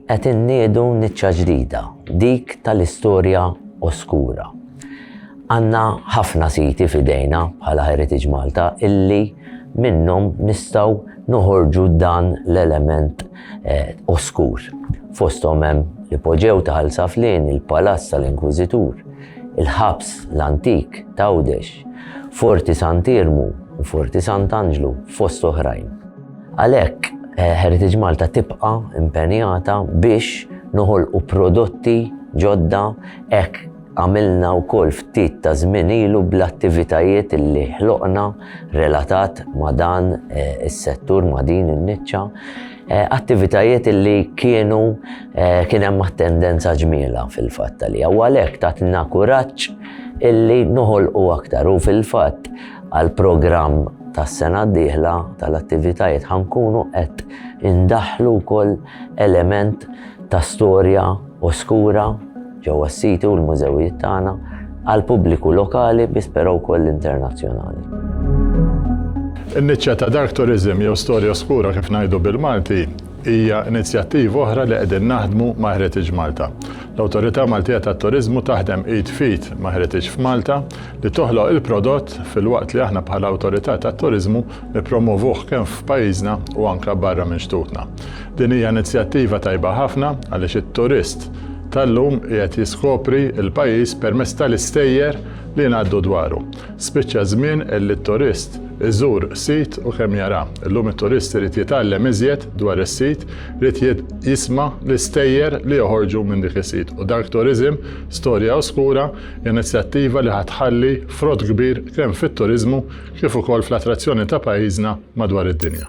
Qed inniedu niċċa ġdida, dik tal-istorja oskura. Għandna ħafna siti f'idejna bħala Heritage Malta illi minnhom nistgħu noħorġu dan l-element eh, oskur. Fosthom hemm l-ipoġew ta' Ħalsaflin, il-Palazz tal-Inkwiżitur, il-Ħabs l-Antik t'Għawdex, Forti Sant'Iermu u Forti Sant'Anġlu fost oħrajn. Għalhekk, Heritage Malta tibqa' impenjata biex noħolqu prodotti ġodda hekk għamilna wkoll ftit ta' żmien ilu bl-attivitajiet li ħloqna relatat ma' dan eh, is-settur ma' din in-niċċa, eh, attivitajiet li kienu Eh, kien hemm tendenza ġmiela fil-fatt li u għalhekk tatna kuraġġ illi noħolqu aktar u fil-fatt għal programm tas-sena d-dieħla tal-attivitajiet ħankunu qed indaħlu wkoll element ta' storja u skura ġewwa s-siti u l-mużewijiet tagħna għal pubbliku lokali biss però wkoll internazzjonali. In-niċċa ta' dark tourism jew storja skura kif ngħidu bil-Malti Hija inizjattiva oħra li qegħdin naħdmu ma' Heritage Malta. L-Awtorità Maltija tat-Turiżmu taħdem id f'id ma' Heritage f'Malta li toħloq il-prodott filwaqt li aħna bħala Awtorità tat-Turiżmu nippromwovuh kemm f'pajjiżna u anke barra minn xtutna. Din hija inizjattiva tajba ħafna għaliex it-turist tal-lum qiegħed jiskopri l-pajjiż permezz tal-istejjer li ngħaddu dwaru. Spiċċa ż-żmien li t-turist iżur sit u kemm jara. Illum it-turist irid jitgħallem iżjed dwar is-sit, irid jisma' l-istejjer li joħorġu minn dik is-sit. U Dark Tourism, Storja Oskura hija inizjattiva li ħa tħalli frott kbir kemm fit-turiżmu kif ukoll fl-attrazzjoni ta' pajjiżna madwar id-dinja.